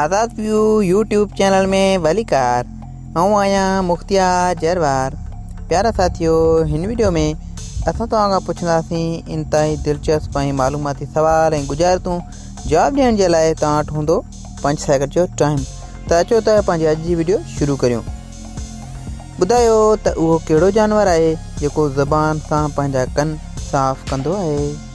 آزاد ويو YouTube channel ۾ ڀليڪار آئون آهيان مختيار جروار پيارا ساٿيو هن وڊيو ۾ اسان توهان کان پڇنداسين انتهائي دلچسپ ۽ معلوماتي سوال ۽ گجارتون جواب ڏيڻ جي لاء توهان وٽ هوندو پنج سيڪنڊ جو ٽائم ته اچو ته پنهنجي اڄ جي وڊيو شروع ڪريون ٻڌايو ته اهو ڪهڙو جانور آهي جيڪو زبان سان پنهنجا ڪن صاف ڪندو آهي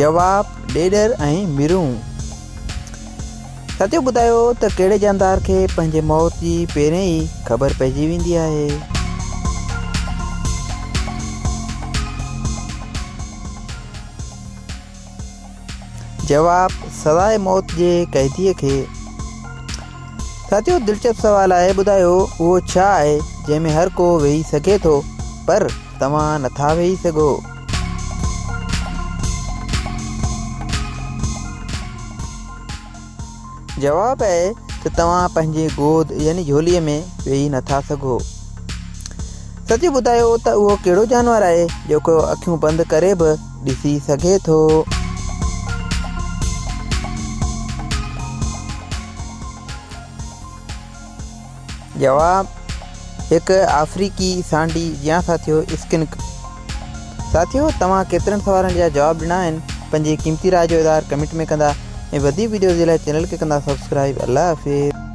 جواب، ڏيڏر ۽ مرون. سچو ٻڌايو ته ڪهڙي جاندار کي پنهنجي موت جي پهرين ئي خبر پئجي ويندي آهي؟ جواب، سزاء موت جي قيديء کي. سچو دلچسپ سوال آهي، ٻڌايو اهو ڇا آهي جنهن ۾ هر ڪو ويهي سگهي ٿو پر توهان نٿا ويهي سگهو. جواب آهي ته توهان پنهنجي گود يعني جهولي ۾ ويهي نٿا سگهو. سچ ٻڌايو ته اهو ڪهڙو جانور آهي جيڪو اکيون بند ڪري به ڏسي سگهي ٿو. جواب، هڪ آفريڪي سانڊي جيان ساٿيو اسڪنڪ. ساٿيو توهان ڪيترن سوالن جا جواب ڏنا آهن پنهنجي قيمتي راء جو اظهار ڪمينٽ ۾ ڪندا ۽ وڌيڪ ويڊيوز جي لاء چينل کي ڪندا سبسڪرائيب الله حافظ.